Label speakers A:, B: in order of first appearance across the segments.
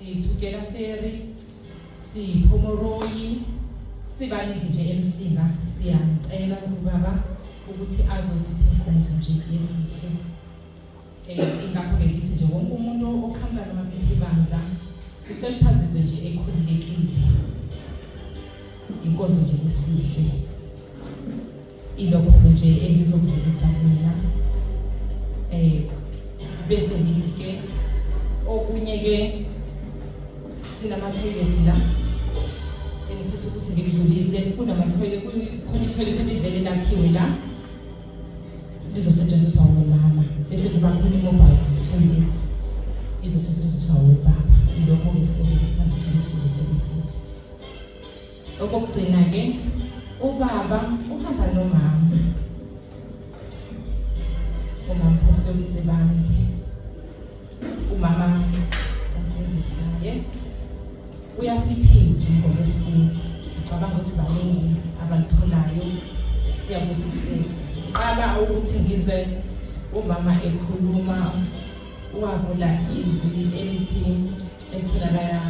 A: Sithukela Ferry, siPhomoroyi, sibaningi nje emsinga siyamcela ubaba ukuthi azosipha inkonzo nje yesihle um ingakho-ke ngithi nje wonke umuntu oqhamuka namaphepha ibandla sicela ukuthi azizwe nje ekhululekile inkonzo nje yesihle Ilokho nje engizokudlulisa mina eh bese ngithi ke okunye ke sinama toilet la engifisa ukuthi ngidlulise kunama toilet kukhona toilet elivele lakhiwe la lizosetshenziswa ngomama bese kuba khona mobile toilet izosetshenziswa ngobaba ilokho ngikuthanda ukuthi ngidlulise futhi Okokugcina-ke ubaba uhamba nomama umamphostoli uMzibande umama umfundisaye uyasiphizwa ngokwesintu ngicabanga ukuthi baningi abalitholayo siyabusiseka qala ukuthi ngize umama ekhuluma wavula izwi elithi etholakala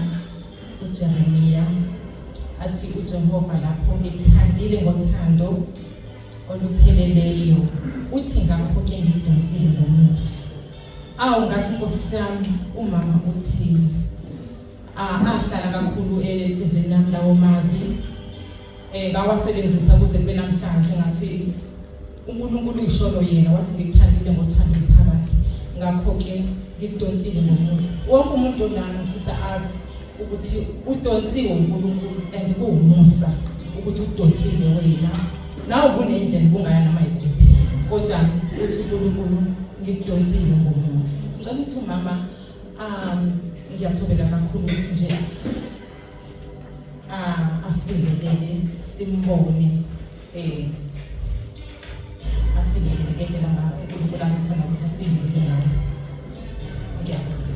A: uJeremiya athi uJehova lapho ngithandile ngothando olupheleleyo uthi ngakho-ke ngidonsile ngomusa awu ngathi nkosi yami umama uthini ahlala kakhulu enhlizweni yami lawo mazwi eh bawasebenzisa kuze kube namhlanje ngathi uNkulunkulu usholo yena wathi ngikuthandile ngothando liphakade ngakho ke ngikudonsile ngomusa wonke umuntu onami ngifisa azi ukuthi udonsiwe uNkulunkulu and kuwumusa ukuthi udonsile wena nawe kunendlela ubungaya nama yikuphi kodwa uthi uNkulunkulu ngikudonsile ngomusa ngicela ukuthi umama um ngiyathobela kakhulu ukuthi nje Ah, asibhekelele simbone eh asibhekelele ngendlela ngayo uNkulunkulu azothanda ukuthi asibhekelele ngayo. Ngiyabonga.